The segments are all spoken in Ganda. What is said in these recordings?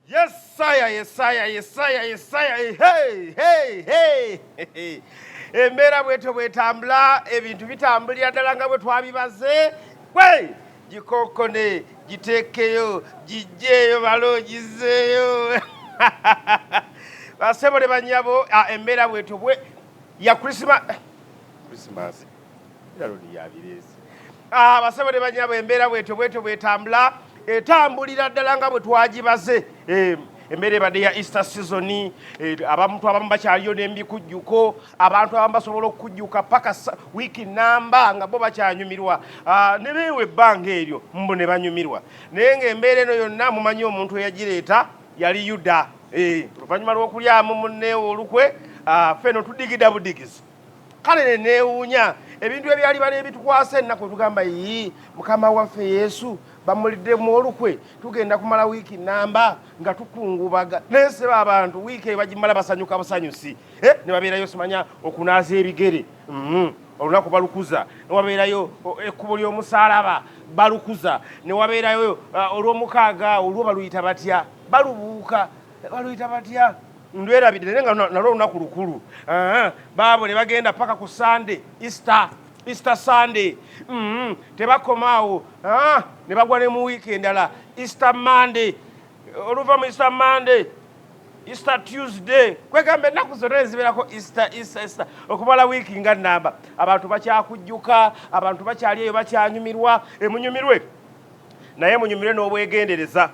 yesaya yesaya yesaya yesaya hey, hey, hey, hey. embeera bwetyo bwetambula ebintu bitambulira ddala nga bwe twabibaze kwe gikokone giteekeyo gijjeeyo balo gizeeyo basebo ne banyabo ah, embeera bwetyo bwe ya krisima eh, krisimasi Ah, basebo ne banyabo embeera bwetyo bwetyo bwetambula etambulira ddala nga bwe twagibaze eh, embeera ebadde ya easter season eh, abantu abamu bakyaliyo nembikujjuko abantu abamu basobola okukujjuka paka wiiki namba nga bo bakyanyumirwa ah, ne beewa ebbanga eryo mbu ne banyumirwa naye ngaembeera eno yonna mumanyi omuntu eyagireeta yali yuda eh, oluvannyuma lw'okulyamu munneewo olukwe ah, ffe no tudigida budigizi kale ne neewuunya ebintu ebyali bali ebitukwasa ennaku etugamba yii mukama waffe yesu bamuliddemu olukwe tugenda kumala wiiki namba nga tukungubaga naye seba abantu wiiki eyo bagimala basanyuka busanyusi eh, ne babeerayo simanya okunaaza ebigere mm-hmm. olunaku balukuza newabeerayo ekkubo ly'omusalaba balukuza newabeerayo uh, olw'omukaaga olwo baluyita batya balubuuka baluyita batya ndwerabidde naye nga nalwo olunaku lukulu baabo ne bagenda paka ku sande easter easter sunday mm-hmm. tebakomaawo ne bagwa ne mu wiiki endala easter monday oluva mu easter monday easter tuesday kwegamba ennaku zonna ezibeerako easter easter easter okumala wiiki nga namba abantu bakyakujjuka abantu bakyali eyo bakyanyumirwa emunyumirwe naye munyumirwe n'obwegendereza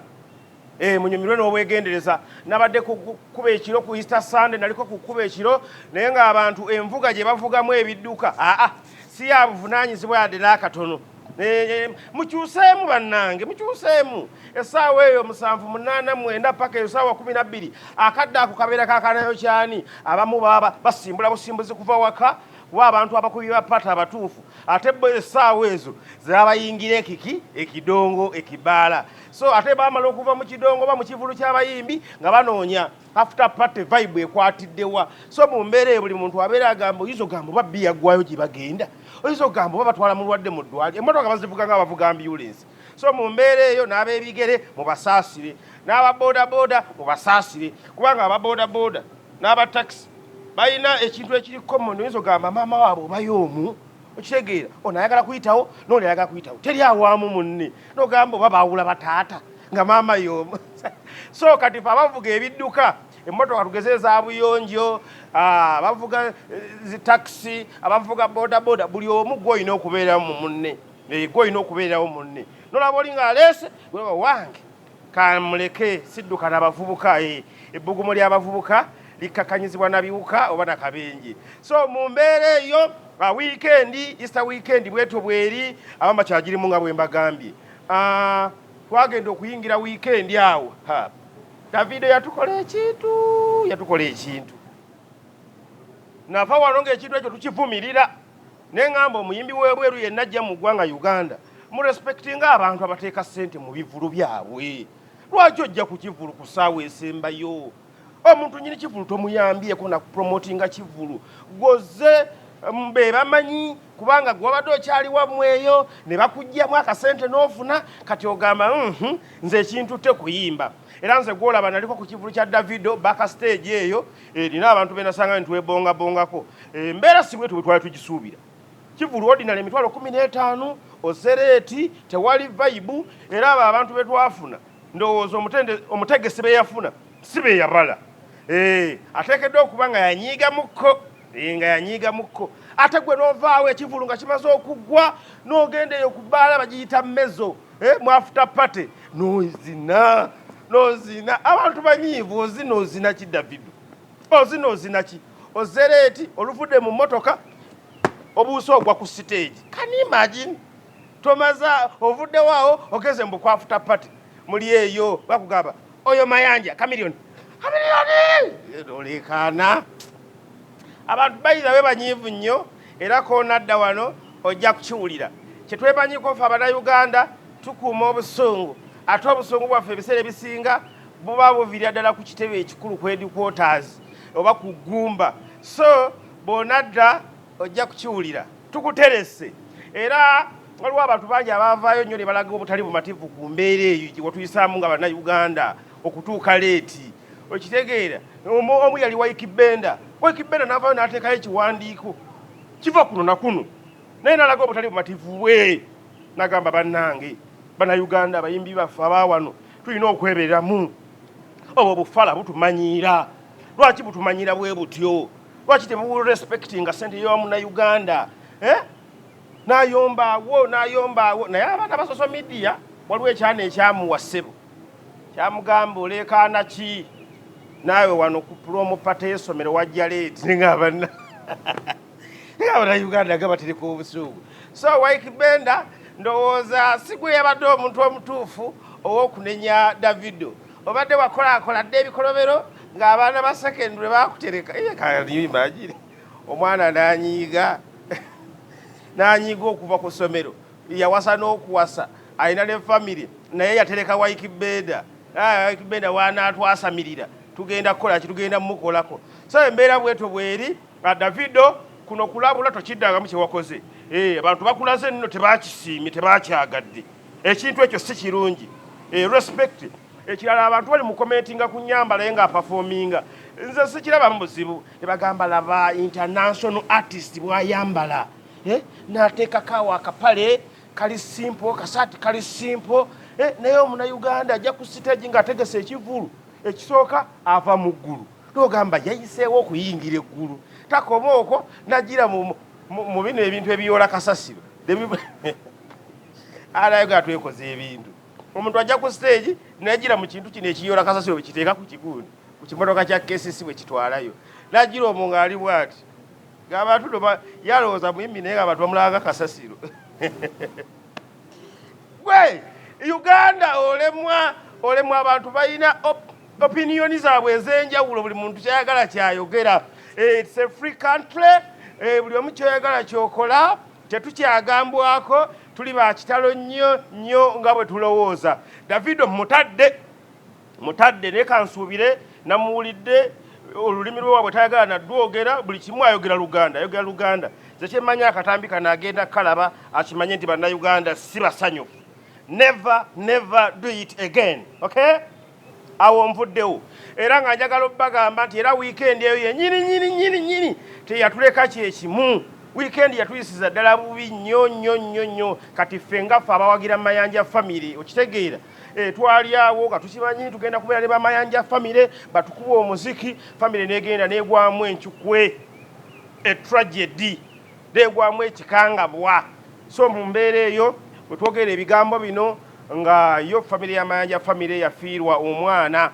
Eh, munyumirwe n'obwegendereza nabadde ku kkuba ekiro ku easter sunday naliko ku kkuba ekiro naye ng'abantu envuga gye bavugamu ebidduka aa si ya buvunaanyizibwa yadde n'akatono eh, mukyuseemu bannange mukyuseemu essaawa eyo musanvu munaana mwenda paka eyo saawa kumi nabbiri akadde ako kabeera kakanayo kyani abamu baba basimbula busimbuzi kuva waka kuba abantu abakubi ba pata abatuufu ate bo essaawa ezo zabayingira ekiki ekidongo ekibaala so ate bamala okuva mu kidongo oba mu kivulu ky'abayimbi nga banoonya after party vibe ekwatiddewa so mu mbeera eyo buli muntu abeera agamba oyinza ogamba oba bbi yaggwayo gye bagenda oyinza ogamba oba batwala mulwadde mu ddwali emmotoka bazivuga nga abavuga ambulensi so mu mbeera eyo n'ab'ebigere mubasaasire n'ababoodabooda mubasaasire kubanga ababoodabooda n'abatakisi balina ekintu ekiri common oyinza ogamba maama waabwe obayo omu okitegeera ono ayagala kuyitawo noli ayagala kuyitawo teri awaamu munne nogamba oba bawula bataata nga maama yomu so kati fe abavuga ebidduka emmotoka tugeze eza buyonjo ah, abavuga eh, zitakisi abavuga bodaboda buli omu gwe olina okubeerawo mu munne eh, gwe olina okubeerawo munne nolaba oli nga aleese gwe wange Kamuleke sidduka na bavubuka. Ebbugumu ly'abavubuka likkakanyizibwa na biwuka oba na kabenje. So mu mbeera eyo uh, wiikendi Easter wiikendi bwetyo bweri abamu bakyagirimu nga bwe mbagambye. Uh, twagenda okuyingira wiikendi awo Davido yatukola ekintu yatukola ekintu nava wano ng'ekintu ekyo tukivumirira. Nengamba omuyimbi webweru yenna ajja mu ggwanga Uganda mu respectinga abantu abateeka ssente mu bivulu byabwe. Lwaki ojja ku kivulu ku ssaawa esembayo? Omuntu nyini kivulu tomuyambyeko na kupromotinga kivulu gwoze mm, be bamanyi kubanga gwe wabadde okyali wamweyo ne bakugyamu akasente n'ofuna kati ogamba mm-hmm, nze ekintutte kuyimba era nze gwolaba naliko ku kivulu kya davido baka stage eyo Eh, nina abantu benasanga nitwebongabongako eh, embeera si bwetu bwetwali tugisuubira kivulu ordinary emitwalo kumi n'etaano osereeti tewali vaibu era abo abantu betwafuna ndowooza omutegesi beyafuna si beyabala eh, ateekeddwa okuba nga yanyiigamukko nga yanyiigamukko ate gwe novaawo ekivulu nga kimaze okuggwa n'ogenda eyo ku bbaala bagiyita mezo Eh, mu after party nozina nozina abantu banyiivu ozina ozina ki davido ozina ozina ki ozereeti oluvudde mu motoka obuusa ogwa ku siteegi kani imagine tomaza ovuddewo awo ogeze mbu kwafuta pati muli eyo bakugamba oyo mayanja kamiliyoni kamiliyoni olekana abantu bayiza we banyiivu nnyo Era k'onadda wano ojja kukiwulira. Kye twemanyiko ffe Abanayuganda, tukuuma obusungu. Ate obusungu bwaffe ebiseera ebisinga buba buviira ddala ku kitebe ekikulu, ku headquarters oba ku ggumba. So bw'onadda ojja kukiwulira. Tukuterese. Era waliwo abantu bangi abaavaayo nnyo ne balaga obutali bumativu ku mbeera eyo gye watuyisaamu nga Bannayuganda okutuuka leeti. okitegeera omu yali waikibenda waikibenda navayo natekayo ekiwandiiko kiva kuno nakuno naye nalaga obutali bumativu bwe nagamba banange banauganda abayimbi baffe abawano tulina okwebereramu obwo bufala butumanyiira lwaki butumanyiira bwe butyo lwaki teburespektinga sente yomunauganda eh? nayombaawo nayombaawo naye abaana basosio midiya waliwo ekyana ekyamuwa ssebo kyamugamba oleekaana ki naawe wano ku pulomupata y'essomero wajja leeti ninga abanna ninga abana uganda nga batereka obusuugu so wike benda ndowooza sigwe yabadde omuntu omutuufu ow'okunenya davido obadde wakolakola dde ebikolobero ng'abaana ba sekendi lwe bakutereka imagine omwana nanyiiga nanyiiga okuva ku ssomero yawasa n'okuwasa alina ne famire naye yatereka waikibeda ah, waikibeda wanatwasamirira tugenda kukola ki tugenda mukolako so embeera bweto bweri ah, davido kuno kulabula tokiddangamu kyewakoze eh, abantu bakulaze nno tebakisiimye tebakyagadde ekintu ekyo si kirungi eh, respect ekirala abantu bali mukomentinga ku nyambala ye ngaapafominga nze sikiraba mu buzibu ne bagamba laba international artist bwayambala eh, nateekako awo akapale kali simpo kasaati kali simpo eh, naye omunauganda ajja ku siteegi ng'ategese ekivulu ekisooka ava mu ggulu togamba yayiseewo okuyingira eggulu takoma okwo nagira mu bino ebintu ebiyoola kasasiro alayoga twekoze ebintu omuntu ajja ku siteegi nagira mu kintu kino ekiyoola kasasiro bwekiteeka ku kigundi ku kimotoka kya kesisi bwekitwalayo nagira omu ng'ali bwati Abantu no ba yalowoza muimbi naye abantu bamulanga kasasiro. Gwe Uganda olemwa olemwa abantu bayina op, opinion zaabwe ezenjawulo buli muntu kyayagala kyayogera. Eh, it's a free country. Eh, buli omu kyoyagala kyokola tetukyagambwako tuli ba kitalo nnyo nnyo nga bwe tulowooza. Davido mutadde. mutadde naye kansuubire namuwulidde olulimi lwewabwe tayagala nadwogera buli kimu ayogera luganda ayogera luganda nze kyemmanyi akatambi kano agenda kalaba akimanye nti bannayuganda si basanyufu never never do it again okay awo nvuddewo era nga njagala obbagamba nti era wiikendi eyo yenyini nyini nyini nyini teyatuleka kyekimu wiikendi yatuyisiza ddala bubi nnyo nnyo nnyo nnyo kati ffe ngaffe abawagira mayanja famiry okitegeera Eh, twalyawo nga tukimanyi tugenda kubeera ne bamayanja famire batukuba omuziki famire negenda negwamu enkikwe etragedy negwamu ekikangabwa so mu mbeera eyo wetwogera ebigambo bino nga yo famire ya mayanja famire yafiirwa omwana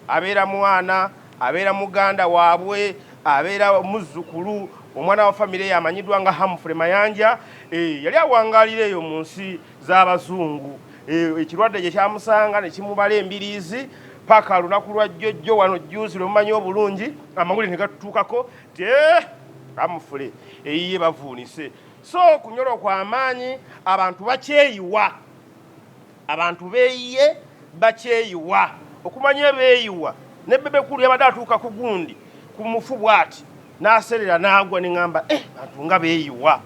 abeera mwana abeera muganda waabwe abeera muzzukulu omwana wa famire yamanyiddwa nga hamfrey mayanja eh, yali awangalira eyo mu nsi z'abazungu eh, ekirwadde gye kyamusanga ne kimubala embiriizi paka lunaku lwa jjojjo wano jjuuzi lwe mumanyi obulungi amawulire ne gatutuukako ti eh, bamufule eyiye bavuunise so kunyolo kwa maanyi abantu bakyeyiwa abantu beeyiye bakyeyiwa okumanya ebeeyiwa ne bebekulu yabadde atuuka ku gundi ku mufu bwati n'aserera n'agwa ne ŋamba eh, bantu nga beeyiwa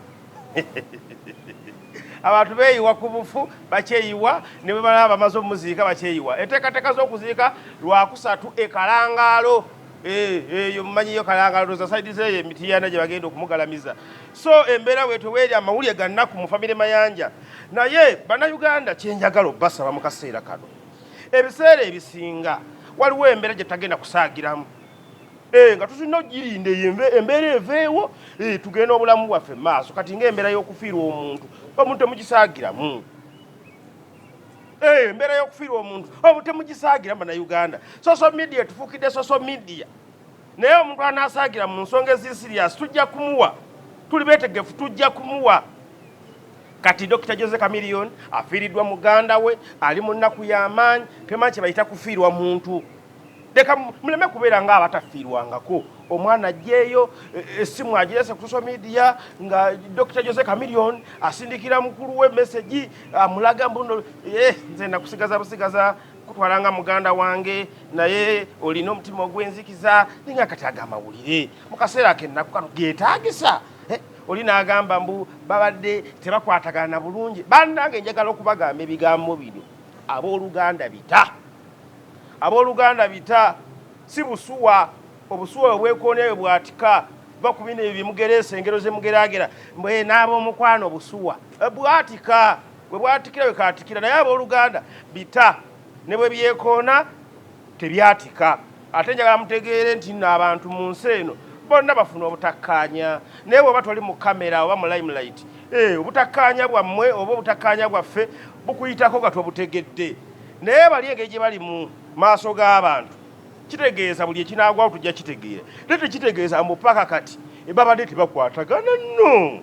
abantu beeyiwa ku bufu bakyeyiwa ne bwe balaba bamaze omuziika bakyeyiwa enteekateeka z'okuziika lwakusatu e kalangaalo eh, eh, eyo mumanyiyo kalangaalo toza saidi zeeyo emitiyana gye bagenda okumugalamiza so embeera weetwe weeri amawulire gannaku mu famire mayanja naye bannayuganda kyenjagala obbasaba mu kaseera kano ebiseera ebisinga waliwo embeera gye tagenda kusaagiramu Eh, nga tulina ogirinda eyo embeera eveewo eh, tugenda obulamu bwaffe maaso kati ngaembeera y'okufiirwa omuntu omuntu temugisaagiramu eh, embeera y'okufiirwa omuntu omuntu temugisaagira mu banauganda social media etufuukidde social media naye omuntu anasaagira mu nsonga eziri siriyasi tujja kumuwa tuli beetegefu tujja kumuwa kati dokita jose camilion afiiriddwa muganda we ali mu nnaku y'amaanyi temanyi kye bayita kufiirwa muntu leka muleme kubeera nga abatafiirwangako omwana ajjeeyo essimu e, agirese ku social media nga dr jose camillion asindikira mukulu we messagi amulaga mbuno eh, nze nakusigaza busigaza kutwala nga muganda wange naye olina omutima ogwenzikiza ninga kati aga amawulire mu kaseera kenaku kano geetaagisa eh, oli n'agamba mbu babadde tebakwatagana bulungi bannange njagala okubagamba ebigambo bino abooluganda bita Ab'oluganda Bita, si busuwa. Obusuwa bwe bwekoonia bwe bwatika. Vva ku bino ebyo bye mugereesa, engero ze mugeraagera, mbu, Ee, n'ab'omukwano busuwa. Bwatika. We bwatikira we kaatikira. Naye, ab'oluganda Bita, ne bwe byekoona, tebyatika. Ate njagala mutegeere nti nno abantu mu nsi eno bonna bafuna obutakkaanya. Naye bw'oba toli mu kkamera oba mu limelight, ee, obutakkaanya bwammwe oba obutakkaanya bwaffe bukuyitako nga tobutegedde. naye bali engeri gye bali mu maaso g'abantu kitegeeza buli ekinaagwawo tujja kitegeera naye tekitegeeza mbu paka kati ebabadde tebakwatagana no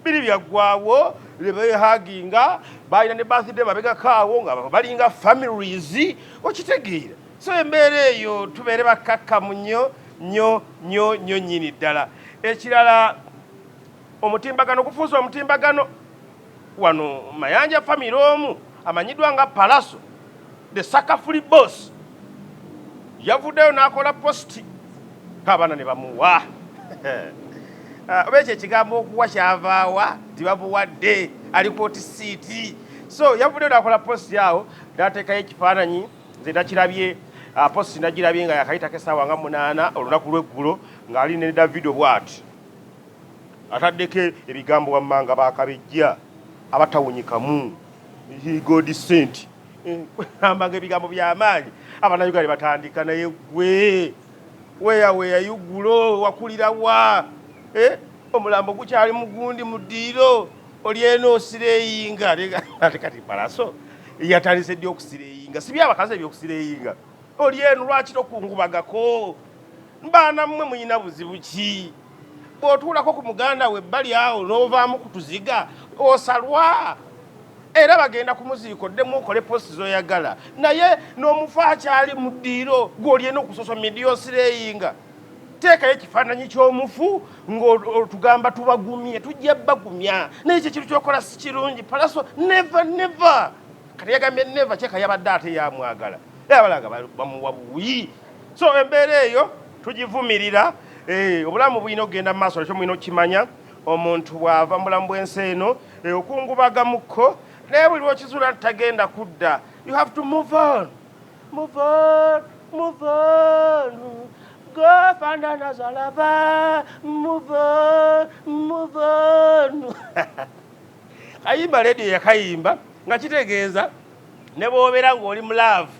biri byaggwawo lebehaginga balina ne bathday babegakaawo nga balinga families okitegeera so embeera eyo tubeere bakkakkamu nnyo nnyo nnyo nnyo nnyini ddala ekirala omutimbagano gufuuse omutimbagano Wano Mayanja famire omu amanyiddwa nga Palaso the Sakafuli Boss yavuddeyo n'akola positi abaana ne bamuwa ah, oba ekyo ekigambo okuwa kyavaawa nti bamuwadde alikooti siiti so yavuddeyo n'akola positi awo n'ateekayo ekifaananyi nze nakirabye ah, positi nagirabye nga yakayitako essaawa nga munaana olunaku lw'eggulo ng'ali ne davido bwati Ataddeko ebigambo wammanga bakabejja abatawunyikamu he God sent wammanga ebigambo byamaanyi abanayuganda batandika naye gwe weya weya yugulo wakulira wa eh? omulambo gukyali mugundi mudiiro olyeno osireyinga ate kati balaso yatandise ddi okusireyinga sibyabakazi ebyokusireyinga oli eno lwaki tokungubagako mbaana mmwe mulina buzibu ki bw'otuulako ku muganda we ebbali awo n'ovaamu ku tuziga osalwa era bagenda kumuziika oddemu okole posti zoyagala naye n'omufu akyali mu ddiiro gw'olyena okusosa midiya osireyinga teekayo ekifaananyi ky'omufu ng'otugamba tubagumye tujja bagumya naye kyekintu kyokola si kirungi palaso neva neva kati yagambye neva kyeka yabadde ate yamwagala era balaga bamuwa buwi so embeera eyo tugivumirira eh, obulamu bulina okugenda mu maaso nakyo mulina okukimanya omuntu bwava mubulamu bwensi eno eh, okungubaga mukko naye buli lwokizuula nti tagenda kudda you have to move on move on move on go find another lover move on move on kayimba leediyo yakayimba nga kitegeeza ne bwobeera ng'oli mu laavu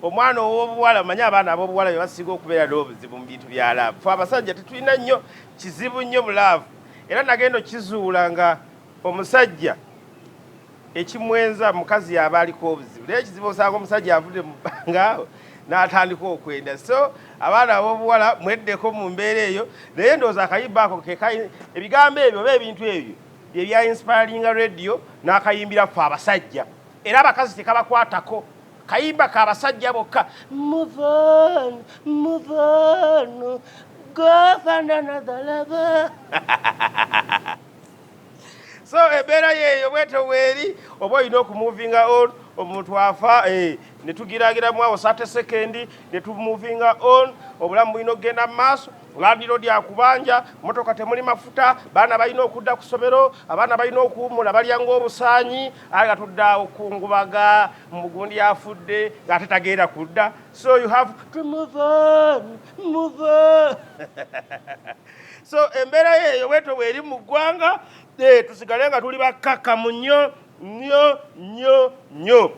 omwana ow'obuwala manye abaana ab'obuwala be basiga okubeera n'obuzibu mu bintu bya laavu fe abasajja tetulina nnyo kizibu nnyo mu laavu era nagenda okizuula nga omusajja ekimwenza mukazi yaba aliko obuzibu naye ekizibu osanga omusajja avudde mu bbanga awo n'atandika okwenda so abaana ab'obuwala mweddeko mu mbeera eyo naye ndowooza akayimba ako ebigambo ebyo oba ebintu ebyo bye bya inspiringa radio n'akayimbira ffe abasajja era abakazi tekabakwatako kayimba ka basajja bokka move on move on go find another lover so embeera yeeyo bwete weeri oba olina okumuvinga on omuntu afa eh, netugiragiramu awo sate sekendi netumuvinga on obulamu bulina okugenda mu maaso landiroodi akubanja motoka temuli mafuta baana balina okudda ku ssomero abaana balina okuwummula balya ng'obusaanyi ali atudde awo kungubaga mugundi afudde ng'ate tageera kudda so you have to move on move on so embeera yeeyo bweto bweri mu ggwanga eh, tusigale nga tuli bakkakkamu nnyo nnyo nnyo nnyo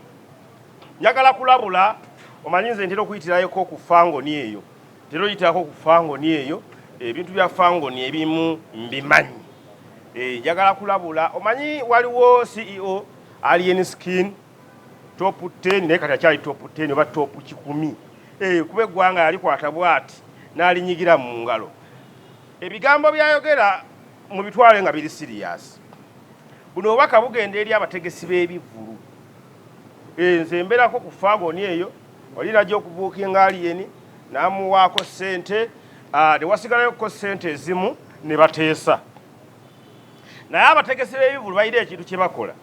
njagala kulabula omanyi nze ntera okuyitirayoka okufa ngoni eyo Tero yitako ku fangoni eyo ebintu bya fangoni ebimu mbimanyi eh, njagala kulabula omanyi waliwo ceo alien skin top 10 naye kati akyali top 10 oba top kikumi eh, kuba eggwanga yalikwata bwati n'alinyigira mu ngalo ebigambo byayogera mu bitwale nga biri siriyasi buno obubaka bugenda eri abategesi b'ebivvulu eh, nze mberako ku fangoni eyo Oli najja okubuukinga Alien n'amuwaako ssente ah, ne wasigalayo ko ssente ezimu ne bateesa. Naye abategesi b'ebivulu balina ekintu kye bakola.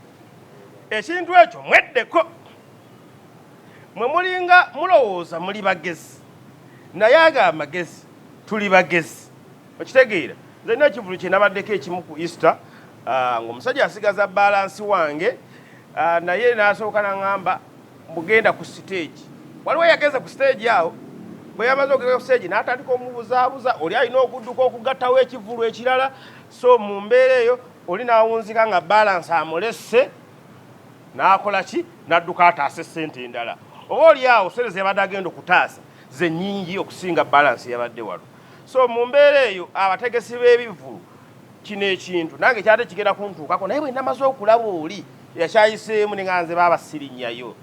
Ekintu ekyo mweddeko. Mwe mulinga mulowooza muli bagezi naye ago amagezi tuli bagezi. Okitegeera? Nze nina ekivulu kye nabaddeko ekimu ku Easter ah, ng'omusajja asigaza baalansi wange ah, naye n'asooka n'aŋamba mbugenda ku siteegi waliwo yagenze ku siteegi awo bwe yamaze okugenda ku siteegi n'atandika omubuzaabuza oli alina okudduka okugattawo ekivulu ekirala so mu mbeera eyo oli n'awunzika nga balansi amulese n'akola ki n'adduka ataase ssente endala oba oli awo sente zeyabadde agenda okutaasa zenyingi okusinga balansi yabadde wano so mu mbeera eyo abategesi b'ebivulu kino ekintu nange kyate kigenda kuntuukako naye bwe namaze okulaba oli Yakyayiseemu ne nga nze baaba sirinnyayo.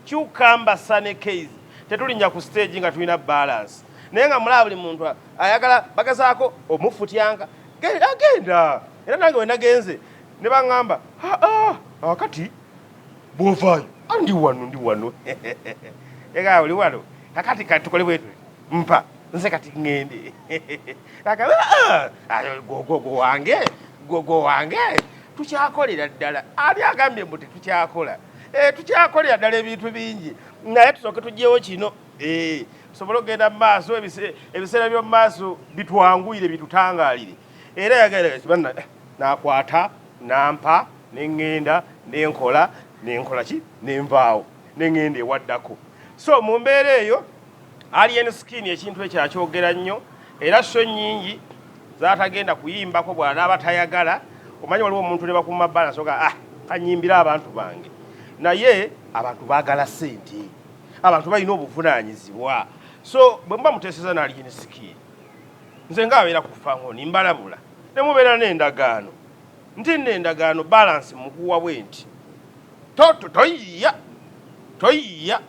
Cucumber Sunny Keith, Tetulinnya ku siteegi nga tulina bbaalansi naye nga mulaba buli muntu ayagala bagezaako omufutyanka. Genda genda era nange we nagenze ne baŋŋamba haa kati bw'ovaayo ah, ndi wano ndi wano ega oli wano kakati kati tukole bwetu mpa nze kati ŋŋende Ah, ah, gogo wange gogo wange tukyakolera ddala ali agambye mbu tetukyakola eh, tukyakolera ddala ebintu bingi naye tusooke tugyewo kino eh, tusobole okugenda mu maaso ebiseera by'omu maaso bitwanguyire bitutangalire era yagerabanna eh, nakwata nampa neŋŋenda nenkola nenkola ki nenvaawo neŋŋenda ewaddako so mu mbeera eyo Alien Skin ekintu ekyo akyogera nnyo era sho nnyingi zatagenda kuyimbako bw'anaaba tayagala. Omanyi waliwo omuntu ne bakuuma bbaala nasoga ah kanyimbire abantu bange naye abantu baagala ssente, abantu balina obuvunaanyizibwa so bwe muba muteeseza na Alien Skin nze nga abeera ku Fangoni mbalabula ne mubeera n'endagaano nti nno endagaano balansi mukuwa bwenti. toyiya toyiya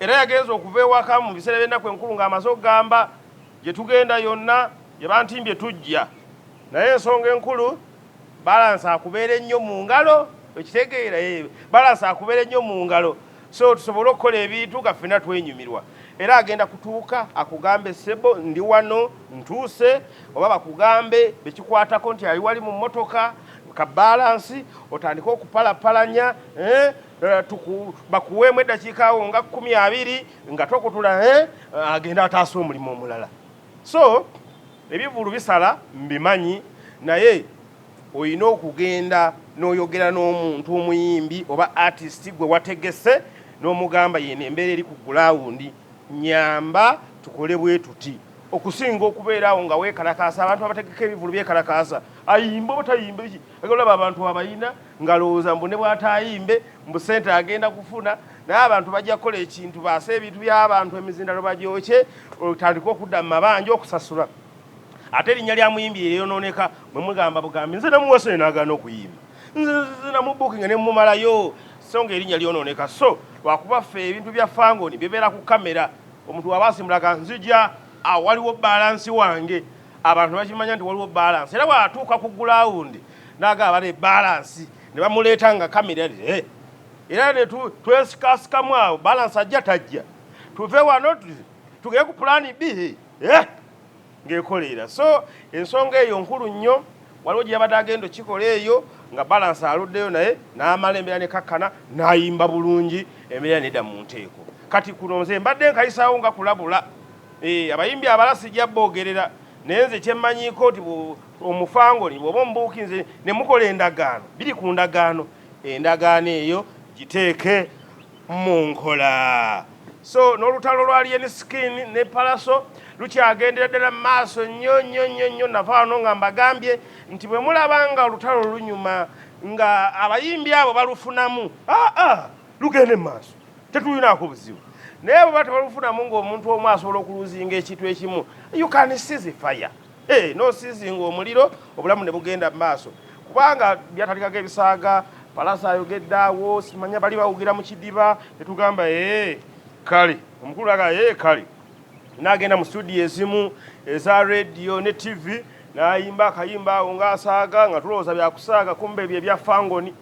era yagenze okuva ewaka mu biseera by'ennaku enkulu ng'amaze okugamba gye tugenda yonna gye bantimbye tujja naye ensonga enkulu balansi akubeera ennyo mu ngalo okitegeera eh, balansi akubeera ennyo mu ngalo so tusobole okukola ebintu nga ffena twenyumirwa era agenda kutuuka akugambe sebo ndi wano ntuuse oba bakugambe bekikwatako nti ali wali mu mmotoka ka balansi otandike okupalapalanya eh, eh, bakuweemu eddakiika awo nga kumi abiri nga tokutula eh, agenda ataasa omulimu omulala so ebivulu bisala mbimanyi naye olina okugenda n'oyogera n'omuntu omuyimbi oba artist gwe wategese n'omugamba yeno embeera eri ku gulawundi nyamba tukole bwe tuti okusinga okubeera awo nga weekalakaasa abantu abategeka ebivulu byekalakaasa Ayimbe oba tayimbe biki? Agenda olaba abantu abayina ngalowooza mbu nebwataayimbe mbu sente agenda kufuna naye abantu bajja kukola ekintu baase ebintu byabantu emizindalo bagyokye otandike okudda mu mabanja okusasula ate erinnya lya muyimbi eryononeka mwe mugamba bugambi nze namuwasene nagaana okuyimba nze namubukinga nemumalayo so nga erinnya lyononeka so lwakuba ffe ebintu bya fangoni bibeera ku kamera omuntu waba asimulaga nzija awaliwo balansi wange Abantu bakimanya nti waliwo balansi era bw'atuuka ku gulawundi n'agaba bale balansi ne bamuleeta nga kamera eh, era ne twesikaasikamu awo balansi ajja tajja tuve wano tugere ku pulaani bi eh, eh, ng'ekoleera so ensonga eyo nkulu nnyo waliwo gye yabadde agenda okikola eyo nga balansi aluddeyo naye n'amala embeera ne kakkana n'ayimba bulungi embeera nedda mu nteeko kati kuno nze mbadde nkayisaawo nga kulabula Eeh abayimbi abala sijja bogerera naye nze kyemmanyiiko nti omufangoli bwoba omubuuki nze ne mukola endagaano biri ku ndagaano endagaano eyo giteeke mu nkola so n'olutalo lwa Alien Skin ne Pallaso lukyagendera ddala mu maaso nnyo nnyo nnyo nnyo nava wano nga mbagambye nti bwe mulaba nga olutalo lunyuma nga abayimbi abo balufunamu aa lugende mu maaso. tetulinaako buzibu naye bweba tebalufunamu ngaomuntu omu asobola okuluzinga ekintu ekimu you can seize fire hey, eh, no seizing omuliro obulamu ne bugenda mumaaso kubanga byatalikako ebisaaga palasa ayogedde awo simanya bali bawugira mu kidiba netugamba ee eh, kale omukulu aga ee eh, kale nagenda mu studio ezimu eza radio ne tv nayimba akayimba awo ngaasaaga nga tulowooza byakusaaga kumbe bye bya fangoni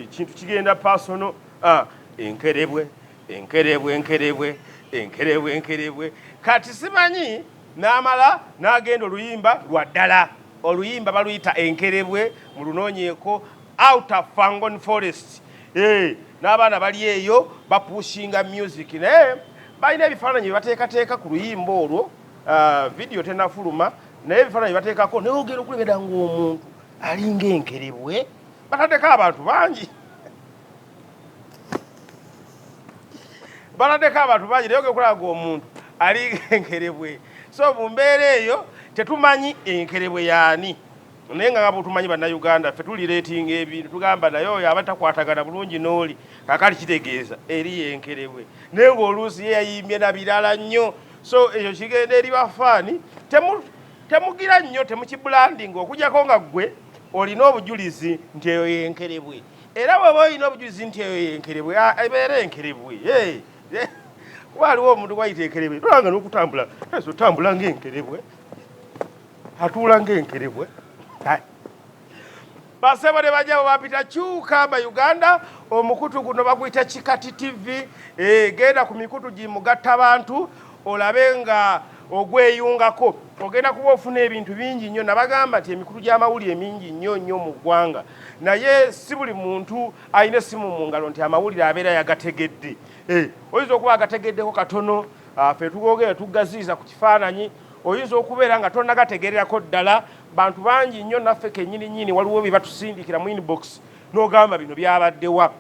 ekintu kigenda pasono Ah, enkerebwe enkerebwe enkerebwe enkerebwe enkerebwe kati simanyi n'amala n'agenda oluyimba lwa ddala oluyimba baluyita enkerebwe mu lunoonyeeko outer fangon forest eh, n'abaana bali eyo bapushinga music naye balina ebifaananyi bye bateekateeka ku luyimba olwo ah, vidiyo tenafuluma naye ebifaananyi bateekako naye ogenda okulengeda ng'omuntu alinga enkerebwe bataddeko abantu bangi bataddeko abantu bangi naye ogekulaga omuntu ali enkerebwe so mu mbeera eyo tetumanyi enkerebwe yaani naye nga ngabo tumanyi bannayuganda ffe tulireetinga ebintu tugamba naye oyo aba takwatagana bulungi n'oli kakali kitegeeza eri yenkerebwe naye ngaoluusi ye yayimbye na birala nnyo so ekyo kigenda eri bafaani temugira nnyo temukibulandinga okujako nga ggwe olina obujulizi nti eyo yenkerebwe era bweba olina obujulizi nti eyo yenkerebwe ebeera enkerebwe kuba aliwo omuntu wayita enkerebwe tolanga nokutambula ezo tambula ngaenkerebwe atuula ngaenkerebwe basebo ne bajabo bapita kyuka ba uganda omukutu guno baguyita kikati tv e, genda ku mikutu gimugatta bantu olabe nga ogweyungako ogenda kuba ofuna ebintu bingi nnyo nabagamba nti emikutu gy'amawulire mingi nnyo nnyo mu ggwanga naye si buli muntu alina essimu mu ngalo nti amawulire abeera yagategedde eh, oyinza okuba agategeddeko katono ah, fe tugogera tuggaziyiza ku kifaananyi oyinza okubeera nga tonagategererako ddala bantu bangi nnyo naffe kenyini nyini waliwo bye batusindikira mu inbox n'ogamba bino byabaddewa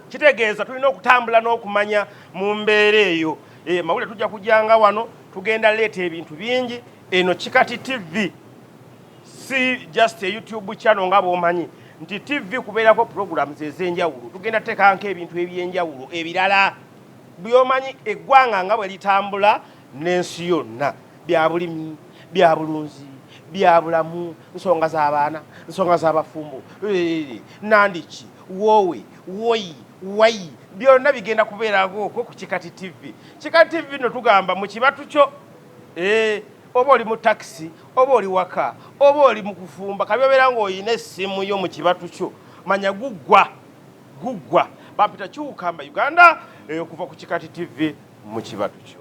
Kitegeeza tulina okutambula n'okumanya mu mbeera eyo. E, mawulire tujja kujanga wano tugenda leeta ebintu bingi eno Kikati TV si just a YouTube channel nga bwomanyi nti TV kubeerako programs ez'enjawulo tugenda tekanko ebintu eby'enjawulo ebirala byomanyi eggwanga nga bwe litambula n'ensi yonna bya bulimi bya bulunzi bya bulamu nsonga z'abaana nsonga z'abafumbo nandiki woowe woyi wayi byonna bigenda kubeerawo ku kikati tv kikati tv no tugamba mu kibatu kyo eh, oba oli mu takisi oba oli waka oba oli mu kufumba kabi obeera ng'olina essimu yo mu kibatu kyo manya guggwa guggwa bampita kiwukamba uganda eh, okuva ku kikati tv mu kibatu kyo